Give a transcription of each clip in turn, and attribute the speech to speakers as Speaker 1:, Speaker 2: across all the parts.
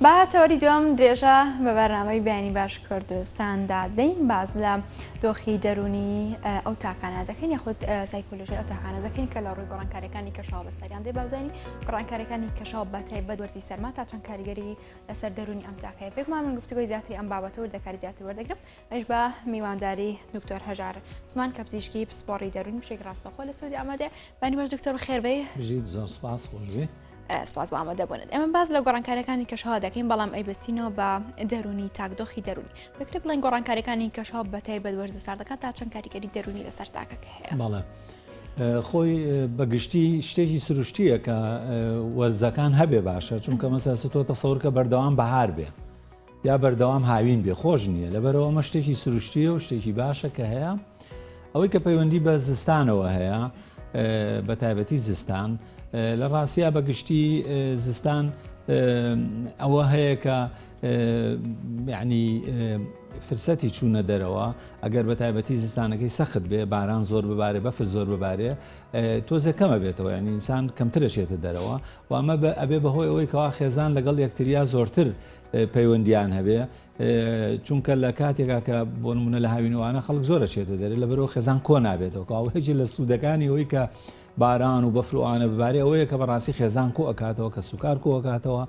Speaker 1: با تەوەری دوم درێژە بە بەرنامەی بیانی باش کوردستاندا دەین باز لە دۆخی دەرونی ئەو تاکانە دەکەین یاخود سایکۆلژی ئەو تاکانە دەکەین کە لە ڕووی گۆڕانکاریەکانی کەشاو بەسەریان دێ بازانی گۆڕانکاریەکانی کەشاو بەتای بەدوەرزی سەرما تا چەند کاریگەری لەسەر دەرونی ئەم تاکەیە پێکمان من گفتگوی زیاتری ئەم بابەتەوە دەکاری زیاتر وەردەگرم ئەش بە میوانداری دکتۆر هەژار زمان کە پزیشکی پسپۆڕی دەرون بشێک ڕاستەخۆ لە سودی ئامادێ بەنیوەش دکتۆر خێربەی بژیت زۆر سپاس
Speaker 2: خۆشبێ. سپاس بۆ ئامادە
Speaker 1: بوونت ئێمە باز لە گۆڕانکاریەکانی کەشەوە دەکەین بەڵام ئەیبستینەوە بە دەرونی تاکدۆخی دەرونی دەکرێت بڵێن گۆڕانکاریەکانی کەشەوە بەتای بەدوەرزە ساردەکان تا چەند کاریگەری دەرونی لەسەر تاکەکە هەیە بەڵێ
Speaker 2: خۆی بەگشتی شتێکی سروشتیە کە وەرزەکان هەبێ باشە چونکە مەسەسە تۆ تەسەورکە بەردەوام بەهار بێ یا بەردەوام هاوین بێ خۆش نییە لەبەرەوە ئەمە شتێکی سروشتیە و شتێکی باشە کە هەیە ئەوەی کە پەیوەندی بە زستانەوە هەیە بە تایبەتی زستان لە ڕاستە بە گشتی زستان ئەوە هەیە کە ینی فرسەتی چوونە دەرەوە ئەگەر بە تایبەتی زستانەکەی سەخت بێ باران زۆر ببارێ بەفر زۆر ببارێ تۆزە کەمە بێتەوە یعنی ئینسان کەمترەشێتە دەرەوە وامە بە ئەبێ بەهۆی ئەوەی کەوا خێزان لەگەڵ یەکتریا زۆرتر پەیوەندییان هەبێ چونکە لە کاتێکا کە بۆ نمونە لە هاوینوانە خەڵک زۆرە چێتە دەرێ لە بەرەوە خێزان کۆ نابێتەوە کاوەیەکی لە سوودەکانی ئەوەی کە باران و بەفروانە ببارێ ئەوەیە کە بەڕاستی خێزان کۆ ئەکاتەوە کە سوکار کۆکاتەوە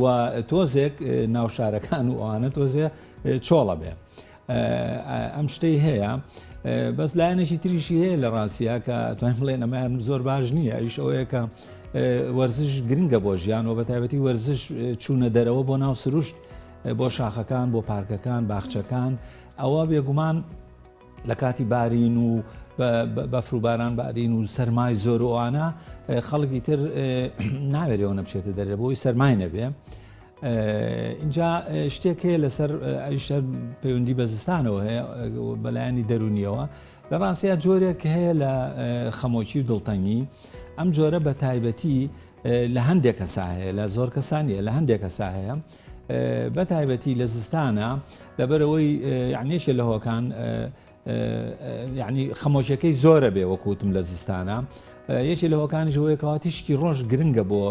Speaker 2: و تۆزێک ناوشارەکان و ئەوانە تۆزێ چۆڵە بێ ئەم شتەی هەیە بەس لایەنێکی تریشی هەیە لە ڕاستە کە توانین بڵێن ئەمەیان زۆر باش نییە ئەوش ئەوەیە کە وەرزش گرنگە بۆ ژیان و بە تایبەتی وەرزش چوونە دەرەوە بۆ ناو سروشت بۆ شاخەکان بۆ پارکەکان باخچەکان ئەوە بێگومان لە کاتی بارین و بەفروباران بارین و سەرمای زۆر ئەوانە خەڵکی تر ناوێرەوە نەبچێتە دەرێ بۆی سەرمای نەبێ. ئینجا شتێک هەیە لەسەر ئەویشە پەیوەندی بە زستانەوە هەیە بەلایانی دەرونیەوە لە ڕاستەیە جۆرێک هەیە لە خەمۆکی و دڵتەنگی ئەم جۆرە بە تایبەتی لە هەندێک کەسا هەیە لە زۆر کەسانیە لە هەندێک کەسا هەیە بە تایبەتی لە زستانە لەبەرەوەی یعنیشە لە هۆکان یانی خەمۆکیەکەی زۆرە بێ وەکوتم لە زستانە یەکێ لە هۆکانیش بۆیە کەوا تیشکی ڕۆژ گرنگە بۆ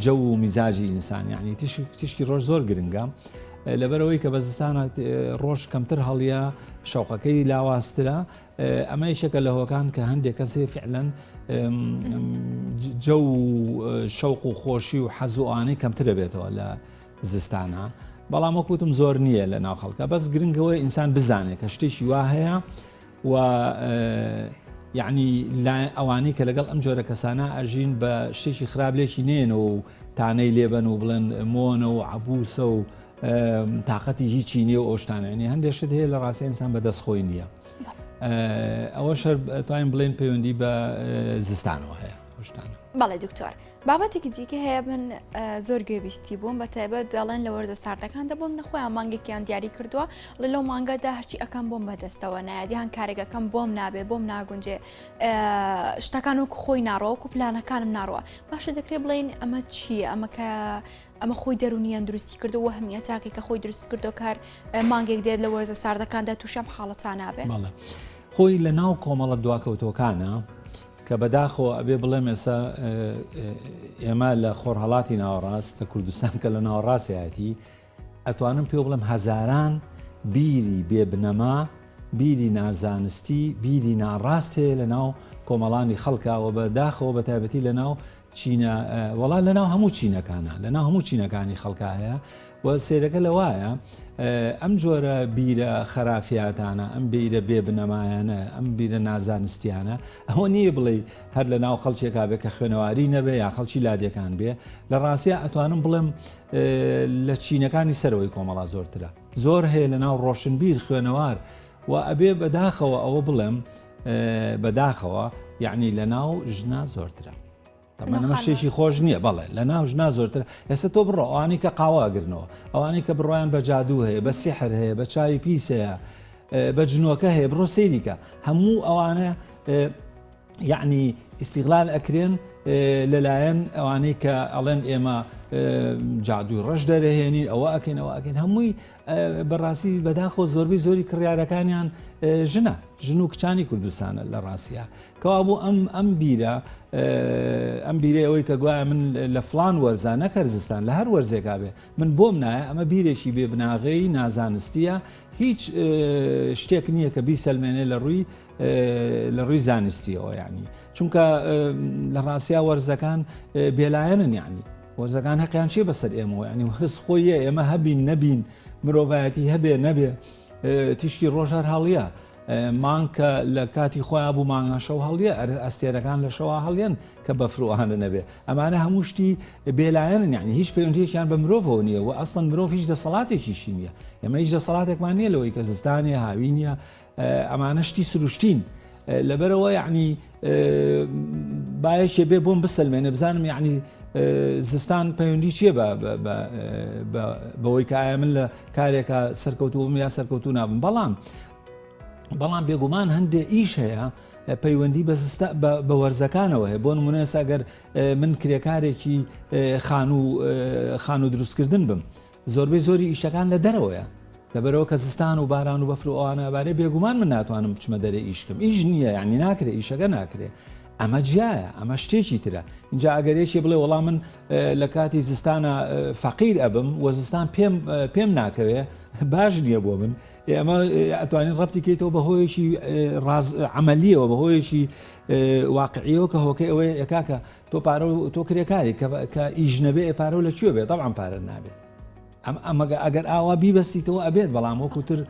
Speaker 2: جە و میزاجی ئینسان یعنی تیشکی ڕۆژ زۆر گرنگە لەبەرەوەی کە بە زستانە ڕۆژ کەمتر هەڵیە شەوقەکەی لاواسترە ئەمە یشەکە لە هۆکان کە هەندێک کەسێ فعلەن جە و شەوق و خۆشی و حەزوانەی کەمترە بێتەوە لە زستانە بەڵام وەک وتم زۆر نییە لە ناو خەڵکە بەس گرنگەوە ئینسان بزانێت کە شتێکی وا هەیە و یعنی ئەوانەی کە لەگەڵ ئەم جۆرە کەسانە ئەژین بە شتێکی خراپ لێکی نێنەوە و تانەی لێبەن و بڵێن مۆنە و عبوسە و تااقەتی هیچی نیە و ئۆشتانانی هەندێک شت هەیە لە ڕاستی ئینسان بە دەست خۆی نییە ئەوە شەر توانین بڵێن پەیوەندی بە زستانەوە هەیە شتانە بەڵێ دکتۆر
Speaker 1: بابەتێکی دیکە هەیە من زۆر گوێبیستی بووم بە تایبەت دەڵێن لە وەرزە ساردەکان دەبووم نەخۆیان مانگێکیان دیاری کردووە لە لەو مانگەدا هەرچی ئەەکەم بۆم بەدەستەوە نایدیان کارێکەکەم بۆم نابێ بۆم ناگونجێ شتەکان و خۆی ناڕۆک و پلانەکانم ناڕوە باشە دەکرێت بڵین ئەمە چییە ئەمە کە ئەمە خۆی دەرونیان دروستی کردو وە هەمیە تاکێک کە خۆی دروست کردو کار مانگێک دێت لە وەرزە ساردەکاندا تووشم حاڵەتان نابێت خۆی لە
Speaker 2: ناو کۆمەڵە دواکەوتەکانە کە بەداخەوە ئەبێ بڵێم ئێستا ئێمە لە خۆرهەڵاتی ناوەڕاست لە کوردستان کە لە ناوەڕاستایەتی ئەتوانم پێ بڵێم هەزاران بیری بێبنەما بیری نازانستی بیری ناڕاست هەیە لە ناو کۆمەڵانی خەڵکەوە بە داخەوە بە تایبەتی لە ناو چینە وەڵا لەناو هەموو چینەکانە لەناو هەموو چینەکانی خەڵکا هەیە و سێرەکە لە وایە ئەم جۆرە بیرە خەرافاتانە ئەم بیرە بێ بنەمایانە ئەم بیرە نازانستیانە ئەوە نییە بڵێ هەر لە ناو خەڵکێکا بێ کە خوێنەواری نەبێ یا خەڵکی لادێکان بێ لە ڕاستە ئەتوانم بڵێم لە چینەکانی سەرەوەی کۆمەڵا زۆرترە زۆر هەیە لە ناو ڕۆشنبیر خوێنەوار و ئەبێ بەداخەوە ئەوە بڵێم بەداخەوە یعنی لە ناو ژنا زۆرترە تەمەەمە شتێکی خۆش نییە بەڵێ لە ناو ژنا زۆرتر ئێستا تۆ بڕۆ ئەوانی کە قاواگرنەوە ئەوانی کە بڕۆیان بە جادوو هەیە بە سیحر هەیە بە چاوی پیس هەیە بە جنۆکە هەیە بڕۆ سەیریکە هەموو ئەوانە یعنی ئیسیغلال ئەکرێن لەلایەن ئەوانەی کە ئەڵێن ئێمە جادووی ڕەش دەرەهێنین ئەوە ئەکەینەوە ئەکەین هەمووی بەڕاستی بەداخەوە زۆربەی زۆری کڕیارەکانیان ژنە ژن و کچانی کوردستانە لە ڕاستە کەوا بوو ئەم ئەم بیرە ئەم بیرە ئەوەی کە گوایە من لە فلان وەرزە نەکەرزستان لە هەر وەرزێکا بێ من بۆم نایە ئەمە بیرێکی بێ بناغەی نازانستیە هیچ شتێک نییە کە بیسەلمێنێ لە ڕووی لە ڕووی زانستیەوە یعنی چونکە لە ڕاستیا وەرزەکان بێلایەنن یعنی هۆزەکان هەقیان چیە بەسەر ئێمەوە ینی هەز خۆیە ئێمە هەبین نەبین مرۆڤایەتی هەبێ نەبێ تیشکی ڕۆژار هەڵە مانکە لە کاتی خۆیان بوو مانگان شەو هەڵە ئەر ئەستێرەکان لە شەوا هەڵێن کە بەفرۆهانە نەبێ ئەمانە هەموو شتی بێلایەن یعنی هیچ پەیوەندیەکیان بە مرۆڤەوە نیە و ئەسڵەن مرۆڤ هیچ دەسەڵاتێکیشی نییە ئەمە هیچ دەسەڵاتێکمان نییە لەوەی کە زستانە هاوینە ئەمانە شتی سروشتین لەبەرەوە یعنی باەکێ بێ بۆم بسەلمێنە بزانم یعنی زستان پەیوەندی چیە بەوەی کایە من لە کارێکە سەرکەوتوم یا سەرکەوتو نابم بەڵام بەڵام بێگومان هەندێ ئیش هەیە پەیوەندی بە وەرزەکانەوە هەیە بۆ نمونەساگەر من کرێکارێکی خانوو خانوو دروستکردن بم زۆربەی زۆری ئیشەکان لە دەرەوەیە لەبەرئەوە کە زستان و باران و بەفر و ئەوانە ئەبارێ بێگومان من ناتوانم بچمە دەرێ ئیش بکەم ئیش نییە یعنی ناکرێ ئیشەکە ناکرێ ئەمە جیایە ئەمە شتێکی ترە اینجا ئەگەر یەکی بڵێ وەڵام من لە کاتی زستانە فەقیر ئەبم و زستان پێم پێم ناکەوێ باش نییە بۆ من ئەمە ئەتوانین ڕەتی کەیتەوە بە هۆیەکی ئەمەلیەوە بە هۆیەکی واقعیەوە کە هۆکەی ئەوەیە ئەکاکە تۆ پارە و تۆ کرێکاری کە کە ئیش نەبێ ئێ پارە و لە کوێ بێ تەبعەن پارەت نابێ ئەم ئەمەگە ئەگەر ئاوا بیبەستیتەوە ئەبێت بەڵام وەکوتر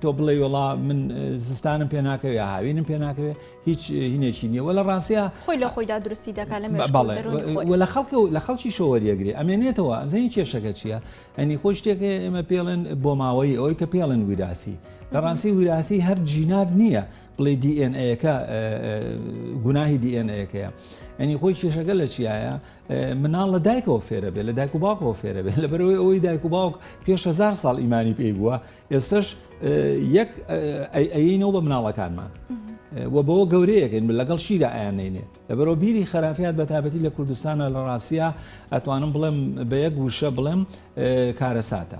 Speaker 2: تۆ بڵێ وڵا من زستانم پێ ناکەوێ یا هاوینم پێ ناکەوێ هیچ هینێکی نییە وە لە ڕاستە خۆی لە خۆیدا درستی
Speaker 1: دەکات لە مێش بەڵێ دەرۆنی خۆی. و لە
Speaker 2: خەڵکە و لە خەڵکی شۆوەریەگرێ ئەمێنێتەوە زەین کێشەکە چییە ئەنی خۆی شتێکە ئێمە پێڵێن بۆماوەی ئەوەی کە پێڵێن ویراسی لە ڕاستی ویراسی هەر جینات نییە بڵێی دی ئێن ئەیەکە گوناهی دی ئێن ئەیەکەیە ئەنی خۆی کێشەکە لە چیایە مناڵ لە دایکەوە فێرە بێت لە دایک و باوکەوە فێرە بێت لە بەرەوەی ئەوەی دایک و باوک پێش هزار ساڵ ئیمانی پێی بووە ئێستش یەک ئەینەوە بە مناڵەکانمان و بەوە گەورەیەکەین لەگەڵ شیرە ئایانینێ لەبەرەوە بیری خراپیات بە تابەتی لە کوردستانە لە ڕاستە ئەتوانم بڵێم بە یەک وشە بڵێم کارەساتە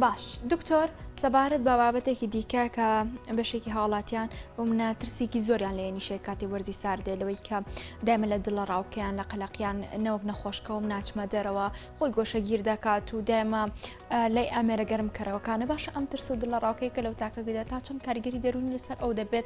Speaker 2: باش
Speaker 1: دکتۆر سەبارەت بە بابەتێکی دیکە کە بەشێکی هاوڵاتیان بۆ منە ترسێکی زۆریان لە نیشێ کاتی وەرزی ساردێ لەوەی کە دایمە لە دڵە ڕاوکەیان لە قەلەقیان نەوەک نەخۆشکەوم ناچمە دەرەوە خۆی گۆشەگیر دەکات و دایمە لای ئامێرە گەرم کەرەوەکانە باشە ئەم ترس و دڵە ڕاوکەی کە لەو تاکە گوێدا تا چەند کارگەری دەرونی لەسەر ئەو دەبێت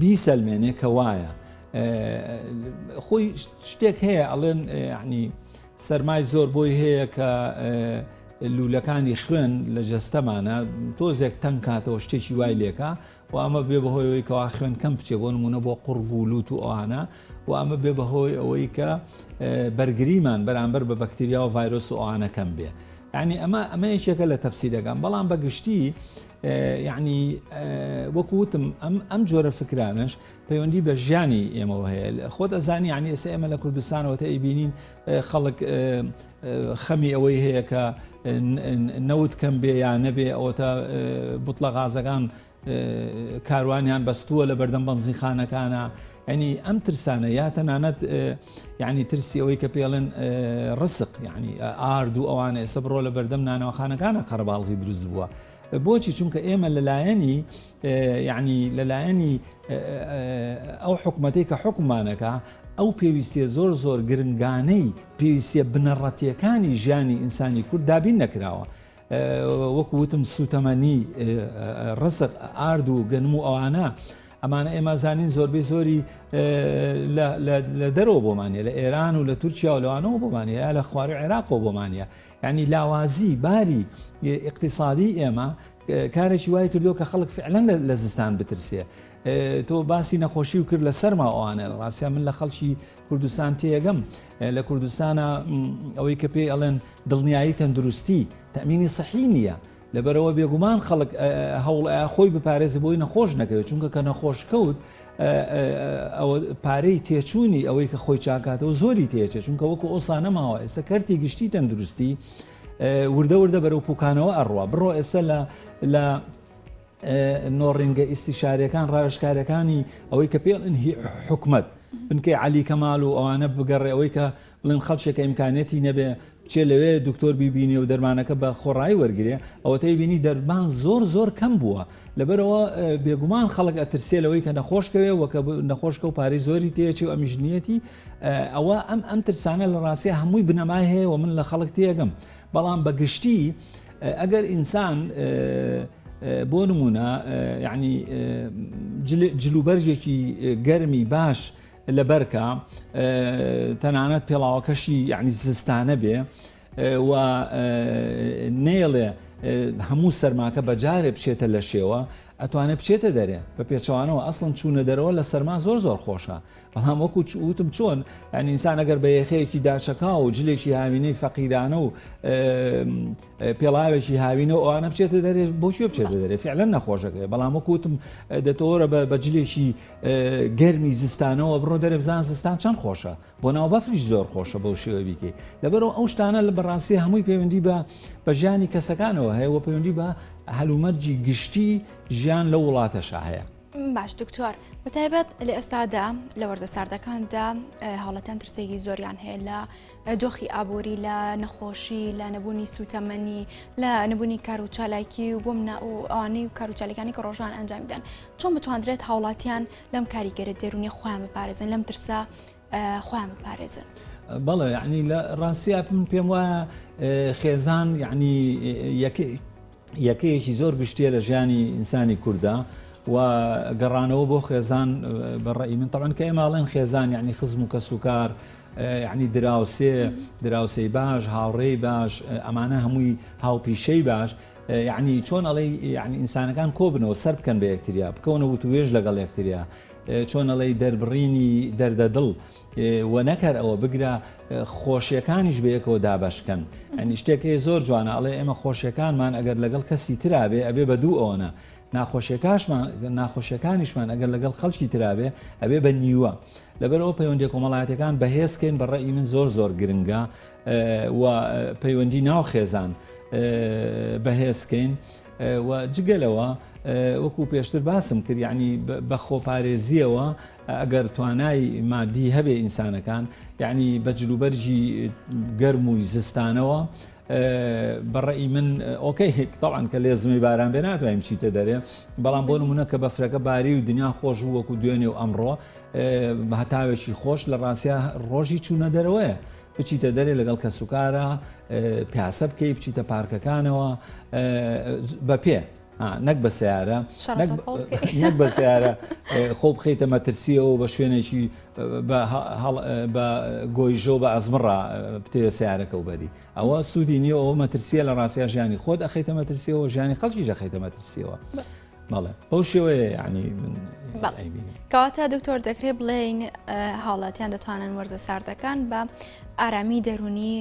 Speaker 2: بیسەلمێنێ کە وایە خۆی شتێک هەیە ئەڵێن عنی سەرمای زۆر بۆی هەیە کە لولەکانی خوێن لە جەستەمانە تۆزێک تەنگ کاتەوە شتێکی وای لێکە و ئەمە بێ بەهۆیەوەی کەوا خوێن کەم بچێ بۆ نمونە بۆ قڕب و لووت و ئەوانە و ئەمە بێ بەهۆی ئەوەی کە بەرگریمان بەرامبەر بە بەکتریا و ڤایرۆس و ئەوانەکەم بێ ینی ئەمە ئەمە یەکێکە لە تەفسیرەکان بەڵام بەگشتی یەعنی وەکو وتم ئەم ئەم جۆرە فکرانەش پەیوەندی بە ژیانی ئێمەوە هەیە خۆت ئەزانی عنی ئێستا ئێمە لە کوردستانەوە تە ئەیبینین خەڵک خەمی ئەوەی هەیە کە نەوت کەم بێ یا نەبێ ئەوە تا بتڵە غازەکان کاروانیان بەستووە لە بەردەم بەنزیخانەکانە یەعنی ئەم ترسانە یا تەنانەت یەعنی ترسی ئەوەی کە پێڵێن ڕسق یەعنی ئارد و ئەوانە ئێسە بڕۆ لە بەردەم نانەوەخانەکانە قەرەباڵغی دروست بووە بۆچی چونکە ئێمە لەلایەنی یەعنی لەلایەنی ئەو حکوومەتەی کە حکومانەکە ئەو پێویستە زۆر زۆر گرنگانەی پێویستە بنەڕەتیەکانی ژیانی ئینسانی کورد دابین نەکراوە وەکو وتم سوتەمەنی، ڕزق، ئارد و گەنم و ئەوانە، ئەمانە ئێمە ئەزانین زۆربەی زۆری لە دەرەوە بۆمان هەیە، لە ئێران و لە تورکیا و لەوانەوە بۆمان هەیە، یا لە خوارووی عێراقەوە بۆمان هەیە. یانی لاوازی باری ئیقتیسادیی ئێمە کارێکی وای کردووە کە خەڵک فیعلەن لە زستان بترسێ. تۆ باسی نەخۆشی و کرد لە سەرما و ئەوانە، ڕاستە من لە خەڵکی کوردستان تێیەگەم لە کوردستانە ئەوەی کە پێی ئەڵێن دڵنیایی تەندروستی تەمینی سەحی نییە لەبەرەوە بێگومان خەڵک هەوڵ خۆی بپارێزی بۆی نەخۆش نەکەوێت چونکە کە نەخۆشکەوت ئەوە پارەی تێچووی ئەوەی کە خۆی چاکاتەوە زۆری تێچێت چونکە وەکو ئەوسا نەماوە ئێستا کەرتی گشتی تەندروستی وردە وردە بەرەو پوکانەوە ئەڕوا بڕۆ ئێستا لە نۆڕینگە ئیستیشاریەکان ڕاوێژکارەکانی ئەوەی کە پێڵن هی حکومەت بنکەی علی کەمال و ئەوانە بگەڕێ ئەوەی کە بڵێن خەڵکێکە ئیمکانەتی نەبێ بچێ لەوێ دکتۆر بیبینێ و دەرمانەکە بە خۆڕایی وەرگێ ئەوەتەی بینی دەرمان زۆر زۆر کەم بووە لەبەرەوە بێگومان خەڵک ئەترسێ لەوەی کە نەخۆشکەوێ وەکە نەخۆشکە و پارەی زۆری تێچی و ئەمیژنیەتی ئەوە ئەم ئەم ترسانە لە ڕاستە هەمووی بنەمای هەیە و من لە خەڵک تێگەم بەڵام بەگشتی ئەم ئەگەر ئینسان بۆ نموونە یعنی جلوبەرگێکی گەرمی باش لە بەرکە تەنانەت پێڵاوەکەشی یعنی زستانە بێ و نێڵێ هەموو سەرماکە بەجارێ بچێتە لە شێوە ئەتوانێت بچێتە دەرێ بە پێچوانەوە ئەسڵن چوونە دەرەوە لە سەرما زۆر زۆر خۆشە بەڵام وەکو وتم چۆن یان ئینسان ئەگەر بە یەخەیەکی داچەکاو و جلێکی هاوینەی فەقیرانە و پێڵاوێکی هاوینە و ئەوانە بچێتە دەرێت بۆشی بچێتە دەرێت فعلە نەخۆشەکەی بەڵام وەکوتم دەتۆرە بە بەجلێکی گەرمی زستانەوە بڕۆ دەرێ بزان زستان چەند خۆشە بۆ ناو بەفریش زۆر خۆشە بەو شێوە بیکەی لەبەرەوە ئەو شتانە لە بەڕاستی هەمووی پەیوەندی بە بە ژیانی کەسەکانەوە هەیە وە پەیوەندی بە هەلومەرجی گشتی ژیان لە وڵاتەشا هەیە باش دکتۆر
Speaker 1: بەتایبەت لە ئێستادا لە وەرزە ساردەکاندا هەڵەتەن ترسێکی زۆریان هەیە لە دۆخی ئابووری لە نەخۆشی لە نەبوونی سوتەمەنی لە نەبوونی کار و چالاکی و بۆم نا و ئەوانەی و کاروچالەکانی کە ڕۆژان ئەنجامیدان چۆن بتواندرێت هاوڵاتیان لەم کاریگەرە دێرونی خۆیان بپارێزن لەم ترسا خۆیان بپارێزن. بەڵێ یعنی
Speaker 2: لە ڕاستە من پێم وایە خێزان یعنی یەکەیەکی زۆر گشتیە لە ژیانی ئینسانی کووردا و گەڕانەوە بۆ خێزان بەڕێی من تەوان کە ئێماڵێن خێزان یعنی خزم و کەس و کار یعنی دراوسێ دراوسەی باش هاوڕێی باش ئەمانە هەمووی هاوپیشەی باش یعنی چۆن ئەڵێ یعنی ئینسانەکان کۆبنەوە سەر بکەن بە یەکتریا بکەونە وتوێژ لەگەڵ یەکتریا چۆن ئەڵێی دەربڕینی دەردە دڵ و نەکەر ئەوە بگرە خۆشیەکانیش بەیەکەوە دابەشکەن ئەنی شتێکی زۆر جوانە ئەڵێ ئێمە خۆشیەکانمان ئەگەر لەگەڵ کەسی ترابێ ئەبێ بە دوو ئەوەنە ناخۆشیەکانشمان ناخۆشیەکانیشمان ئەگەر لەگەڵ خەڵکی ترابێ ئەبێ بە نیوە لەبەرەوە پەیوەندی کۆمەڵاتەکان بەهێزکەین بە ڕێی من زۆر زۆر گرنگە و پەیوەندی ناو خێزان بەهێزکەین و جگە لەوە وەکو پێشتر باسم کرد یعنی بە خۆپارێزیەوە ئەگەر توانای مادی هەبێ ئینسانەکان یعنی بە جلوبەرجی گەرم و زستانەوە بەڕی من ئۆکەی هێکتەڵان کە لێزمی باران بێ ناتوانین چیتە دەرێ بەڵام بۆ نمونە کە بەفرەکە باری و دنیا خۆش و وەکو دوێنێ و ئەمڕۆ هەتاوێکی خۆش لە ڕاستە ڕۆژی چوونە دەرەوەیە بچیتە دەرێ لەگەڵ کەسوکارا پیاسە بکەی بچیتە پارکەکانەوە بە پێ نەک بە سیارە نەک بە سیارە خۆ بخیتە مەترسیەوە بە شوێنێکی بە گۆیژۆ بە ئەزمڕا بتەوێت سیارەکە و بەری ئەوە سوودی نیە ئەو مەترسیە لە ڕاستیا ژیانی خۆت ئەخیتە مەترسیەوە ژیانی خەڵکی ژەخیتە مەترسیەوە. بەڵێ بەو شێوەیە یعنی من ئەیبینم.
Speaker 1: کەواتە دکتۆر دەکرێت بڵێین هاوڵاتیان دەتوانن وەرزە ساردەکان بە ئارامی دەرونی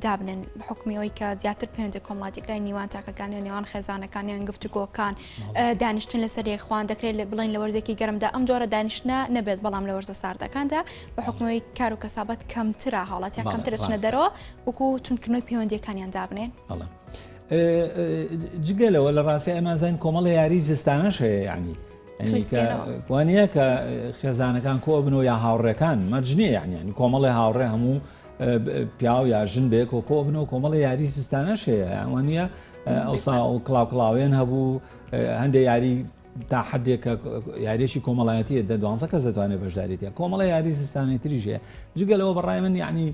Speaker 1: دابنن بە حکمیەوەی کە زیاتر پێنجە کۆمەڵاتەکان نیوان تاکەکانی نێوان خێزانەکانیان گفتوگۆکان دانیشتن لەسەر یەکخواان دەکرێت لە بڵین لە وەرزێکی گەرمدا ئەم جۆرە دانیشتە نەبێت بەڵام لە وەرزە ساردەکاندا بە حکمەوەی کار و کەسابەت کەمترا هاوڵاتیان کەمترچنە دەرەوە وەکو چونکردنەوەی پەیوەندەکانیان دابنێن.
Speaker 2: جگە لەوە لە ڕاستە ئەمازان کۆمەڵە یاری زستانەش هەیە یعنی وانە کە خێزانەکان کۆ بنەوە یا هاوڕێکان مەرجنیە یعنی کۆمەڵی هاوڕێ هەموو پیاو یا ژن بێک و کۆ بنەوە کۆمەڵی یاری زستانەش هەیە ئەوانە ئەوسا و کلااو کلااوێن هەبوو هەندێک یاری تا حدێکە یاریشی کۆمەڵایەتیە دە دوانزە کەس دەتوانێت بەشداریتە کۆمەڵە یاری زستانی تریژەیە جگەلەوە بەڕای من یعنی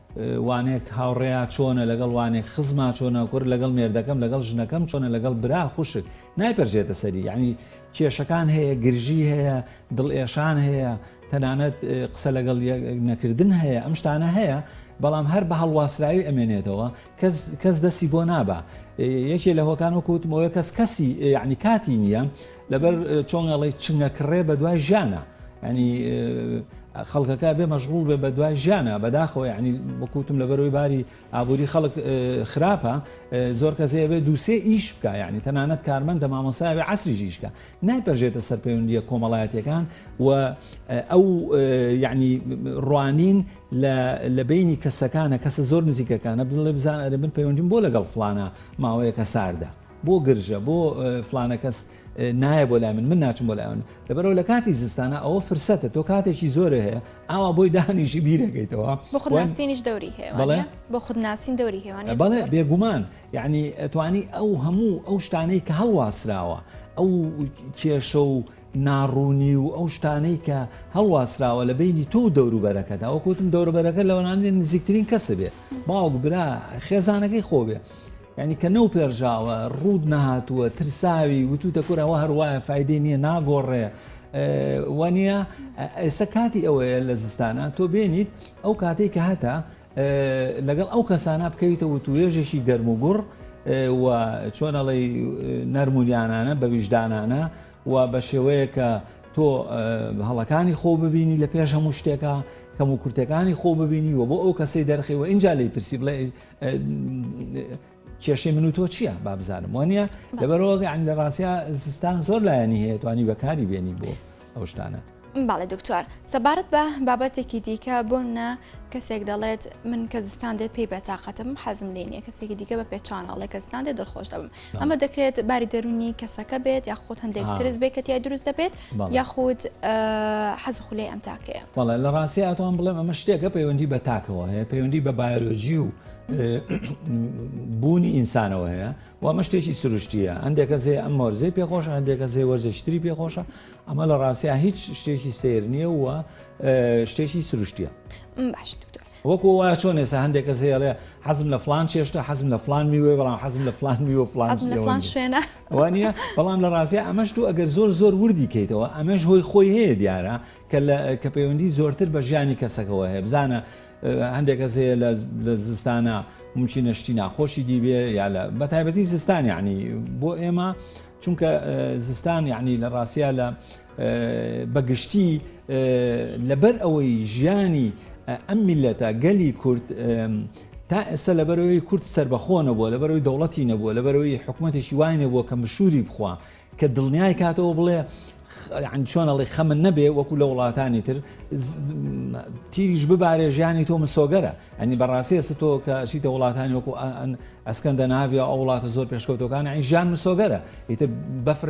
Speaker 2: وانێک هاوڕێیا چۆنە لەگەڵ وانێک خزما چۆنە کورد لەگەڵ مێردەکەم لەگەڵ ژنەکەم چۆنە لەگەڵ برا خوشک نایپەرژێتە سەری یعنی کێشەکان هەیە گرژی هەیە دڵ ئێشان هەیە تەنانەت قسە لەگەڵ نەکردن هەیە ئەم شتانە هەیە بەڵام هەر بە هەڵواسراوی ئەمێنێتەوە کەس دەسی بۆ نابا یەکێ لە هۆکان وەکوتمەوە کەس کەسی یعنی کاتی نییە لەبەر چۆن ئەڵێ چنگە کڕێ بە دوای ژیانە ینی خەڵکەکە بێ مەشغول بێ بە دوای ژیانە بەداخۆ ینی بکوتم لە بەرەوەی باری ئابووری خەڵک خراپە زۆر کەسەیە بێ دووسێ ئیش بکە ینی تەنانەت کارمەندە مامۆساوێ عسری ژیشکە نایپەرژێتە سەر پەیوەندیە کۆمەڵایەتەکان و ئەو یعنی ڕوانین لە بینی کەسەکانە کەسە زۆر نزیکەکانە بڵێ بزان ئەرێ من پەیوەندیم بۆ لەگەڵ فلانە ماوەیەکە ساردە بۆ گرژە بۆ فلانە کەس نایە بۆ لای من من ناچم بۆ لایەن لەبەرەوە لە کاتی زستانە ئەوە فرسەتە تۆ کاتێکی زۆرە هەیە ئاوا بۆی دانیشی بیرەکەیتەوە بۆ خودناسینیش
Speaker 1: دەوری هەیە بەڵێ بۆ خودناسین دەوری هێوان بەڵێ بێگومان
Speaker 2: یعنی ئەتوانی ئەو هەموو ئەو شتانەی کە هەڵواسراوە ئەو کێشە و ناڕوونی و ئەو شتانەی کە هەڵواسراوە لە بینی تۆ دەوروبەرەکەدا وەکوتم دەوروبەرەکە لەوانانی نزیکترین کەسە بێ باوک برا خێزانەکەی خۆبێ یانی کە نەوپێرژاوە ڕووت نەهاتووە ترساوی وتوتە کورەوە هەروایە فیدی نییە ناگۆڕێ وانە ئێستا کاتی ئەوەیە لە زستانە تۆ بێنیت ئەو کاتێک کە هەتا لەگەڵ ئەو کەسانە بکەویتە وتوێژێکی گەرم و گوڕ و چۆنەڵی نەرمونیانانە بە ویژدانانە و بە شێوەیە کە تۆ هەڵەکانی خۆ ببینی لە پێش هەموو شتێکە کەم و کورتەکانی خۆ ببینی و بۆ ئەو کەسەی دەرخی و ئینجا لی پرسی بڵێ کێشەی من و تۆ چییە با بزانم وانە لەبەرەوە ئەنگ لە ڕاستە زستان زۆر لایەنی هەیە توانی بەکاری بێنی بۆ ئەو شتانە. باڵێ دکتۆر
Speaker 1: سەبارەت بە بابەتێکی دیکە بۆ منە کەسێک دەڵێت من کە زستان دێ پێی بەتاقەتم حەزم لێ نیە کەسێکی دیکە بە پێچانەڵێ کەستان دێ دڵخۆش دەبم ئەمە دەکرێت باری دەرونی کەسەکە بێت یا خۆت هەندێک ترس بێت کە تای دروست دەبێت یاخود حەز و خولەی ئەم تاکەیە؟ بەڵێ لە ڕاستیا ئەتوان
Speaker 2: بڵێم ئەمە شتێکە پەیوەندی بە تاکەوە هەیە پەیوەندی بە بایۆلۆژی و بوونی ئینسانەوە هەیە و ئەمە شتێکی سروشتیە هەندێکە زێ ئەم مۆرزەی پێخۆشە هەندێکە زێ وەرزشتری پێخۆشە ئەمە لە ڕاستیا هیچ شتێکی سیر نییە و شتێکی سروشتیە باش دکتۆر
Speaker 1: وەکو وایە چۆن ئێستا
Speaker 2: هەندێک کەس هەیە ئەڵێ حەزم لە فڵان چێشتە، حەزم لە فڵان میوەیە، بەڵام حەزم لە فڵان میوە و فڵان حەزم لە فڵان شوێنە.
Speaker 1: وانییە؟ بەڵام
Speaker 2: لە ڕاستیا ئەمەش تۆ ئەگەر زۆر زۆر وردی کەیتەوە ئەمەش هۆی خۆی هەیە دیارە کە لە کە پەیوەندی زۆرتر بە ژیانی کەسەکەوە هەیە بزانە هەندێک کەس هەیە لە لە زستانە مومچینە شتی ناخۆشی دیبێ یا لە بە تایبەتی زستان یعنی بۆ ئێمە چونکە زستان یعنی لە ڕاستیا لە بەگشتی لەبەر ئەوەی ژیانی ئەم میلەتە گەلی کورد تا ئێستا لەبەرەوەی کورد سربەخۆ نەبووە لەبەرەوەی دەوڵەتی نەبووە لەبەرەوەی حکوومەتێکی وای نەبووە کە مشوری بخوا کە دڵنیای کاتەوە بڵێ چۆنەڵی خەمن نەبێ وەکو لە وڵاتانی تر تیریش ببارێ ژیانی تۆ مسۆگەرە ئەنی بەڕاستی ئەس تۆ کە شیتە وڵاتانی وەکو ئەسکەندە ناوی ئەو وڵاتە زۆر پێشکەوتەکان ئەین ژیان مسۆگەرە ئیتر بەفر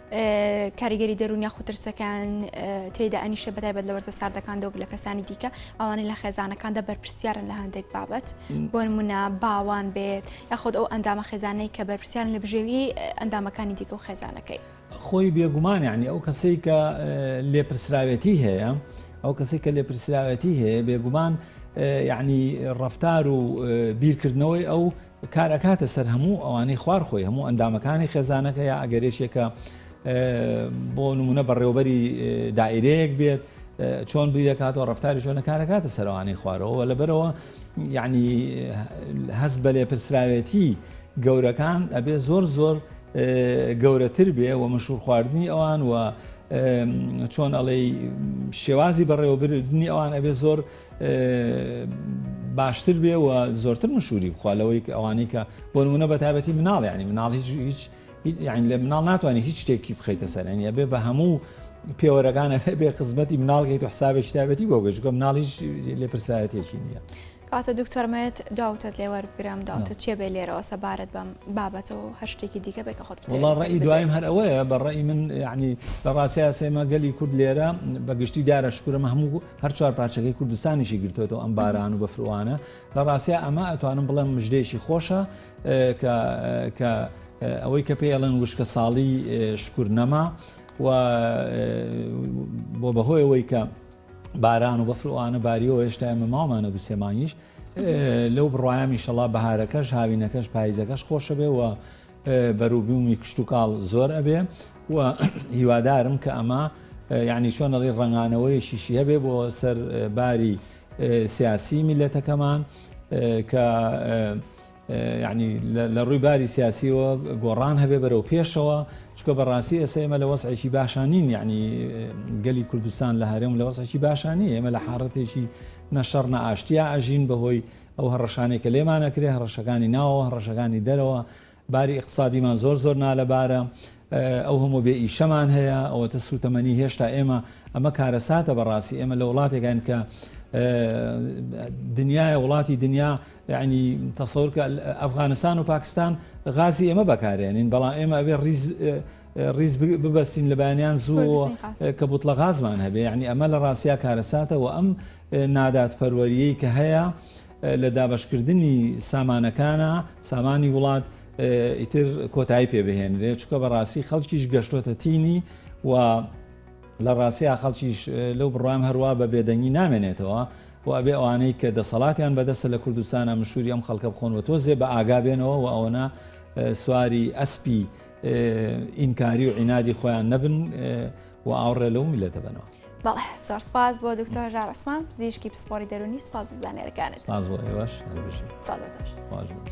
Speaker 1: کاریگەری دەرون یاخود ترسەکان تێدا ئەنیشە بەتایبەت لە وەرزە ساردەکاندا و لە کەسانی دیکە ئەوانەی لە خێزانەکاندا بەرپرسیارن لە هەندێک بابەت بۆ منە باوان بێت یاخود ئەو ئەندامە خێزانەی کە بەرپرسیارن لە بژێوی ئەندامەکانی دیکە و خێزانەکەی خۆی بێگومان
Speaker 2: یعنی ئەو کەسەی کە لێپرسراوێتی هەیە ئەو کەسی کە لێپرسراوێتی هەیە بێگومان یعنی ڕفتار و بیرکردنەوەی ئەو کار ئەکاتە سەر هەموو ئەوانەی خوار خۆی هەموو ئەندامەکانی خێزانەکە یا ئەگەر یەکێکە بۆ نمونە بەڕێوبەری دائرەیەک بێت چۆن بیرەکاتەوە ڕفتاری شوێنەکارەکاتە سەروانەی خوارەوە لەبەرەوە یعنی هەست بە لێپرسراوێتی گەورەکان ئەبێ زۆر زۆر گەورەتر بێ و مەشور خواردنی ئەوان و چۆن ئەڵێ شێوازی بەڕێوەبردنی ئەوان ئەبێ زۆر باشتر بێ و زۆرتر مشوری بخوا لەوەی ئەوانەی کە بۆ نمونە بە تابەتی مناڵ ینی مناڵ هیچ هیچ یعنی لە مناڵ ناتوانانی هیچ شتێکی بخیتە سەرێنە بێ بە هەموو پێوەرەکانە بێ خزمەتی مناڵگەیت و حسابێک شتابەتی بۆ گەشتکە مناڵیش لێ پرسایەتێکی نییە. کاتە
Speaker 1: دکتۆرمەت داوتت لێ وەربگرم داوتە چێ بێ لێرەوە سەبارەت بەم بابەتەوە هەر شتێکی دیکە بێک خۆت ڕی دوایم هەر
Speaker 2: ئەوەیە بە ڕێی من ینی لە ڕاستە سێمە گەلی کورد لێرە بە گشتی دارە شکرم هەموو هەر چوار پارچەکەی کوردستانیشی گرتۆتەوە ئەم باران و بەفروانە لە ڕاستیا ئەمە ئەتوانم بڵێم مژدەیەکی خۆشە کە ئەوەی کە پێ ئەڵێن وشکە ساڵی شکر نەما و بۆ بەهۆیەوەی کە باران و بەفروانە باریەوە هێشتا ئەمە ماوانە دو سێمانیش لەو بڕایامی شەڵا بەهارەکەش هاوینەکەش پاییزەکەش خۆشە بێ و بەروبوومی کشتوکاڵ زۆر ئەبێ و هیوادارم کە ئەمە یعنی چۆن ئەڵێ ڕەنگانەوەیەکیشی هەبێ بۆ سەر باری سیاسی میلەتەکەمان کە یعنی لە ڕووی باری سیاسیەوە گۆڕان هەبێ بەرەو پێشەوە چکە بەڕاستی ئێستا ئێمە لە وەسعێکی باشانین یعنی گەلی کوردستان لە هەرێم لە وەسعێکی باشانی ئێمە لە حاڕەتێکی نەشەڕ نە ئاشتیا ئەژین بەهۆی ئەو هەڕەشانەی کە لێمان ئەکرێ، هەڕەشەکانی ناوەوە، هەڕەشەکانی دەرەوە، باری ئیقتسادیمان زۆر زۆر نالەبارە، ئەو هەموو بێ ئیشەمان هەیە، ئەوەتە سووتەمەنی هێشتا ئێمە، ئەمە کارەساتە بەڕاستی، ئێمە لە وڵاتێکاین کە دنیایە، وڵاتی دنیا، یەعنی تەسەور کە ئەفغانستان و پاکستان غازی ئێمە بەکارێنین، بەڵام ئێمە ئەبێ ڕیز ڕیز ببەستین لە بەیانیان زوو کە بوتڵە غازمان هەبێ، یەعنی ئەمە لە ڕاستیا کارەساتە و ئەم نادادپەروەریەی کە هەیە لە دابەشکردنی سامانەکانە سامانی وڵات ئیتر کۆتایی پێ بهێنرێ چکە بە ڕاستی خەڵکیش گەشتۆتە تینی و لە ڕاستەیە خەڵکیش لەو بڕام هەروە بە بێدەنگی نامێنێتەوە و ئەبێ ئەوانەی کە دەسەڵاتیان بەدەستە لە کوردستانە مشوری ئەم خەڵکە بخۆن و تۆزێ بە ئاگا بێنەوە و ئەوەنە سواری ئەسپی ئینکاری و عینادی خۆیان نەبن و ئاوڕێ لەو میلەتە بنەوە. بەڵێ زۆر سپاس
Speaker 1: بۆ دکتۆر هەژار عوسمان پزیشکی پسپۆڕی دەروونی
Speaker 2: سپاس
Speaker 1: بۆ زانیاریەکانت. سپاس بۆ ئێوەش هەربژی. سڵاو دکتۆر.
Speaker 2: خواش
Speaker 1: بێت.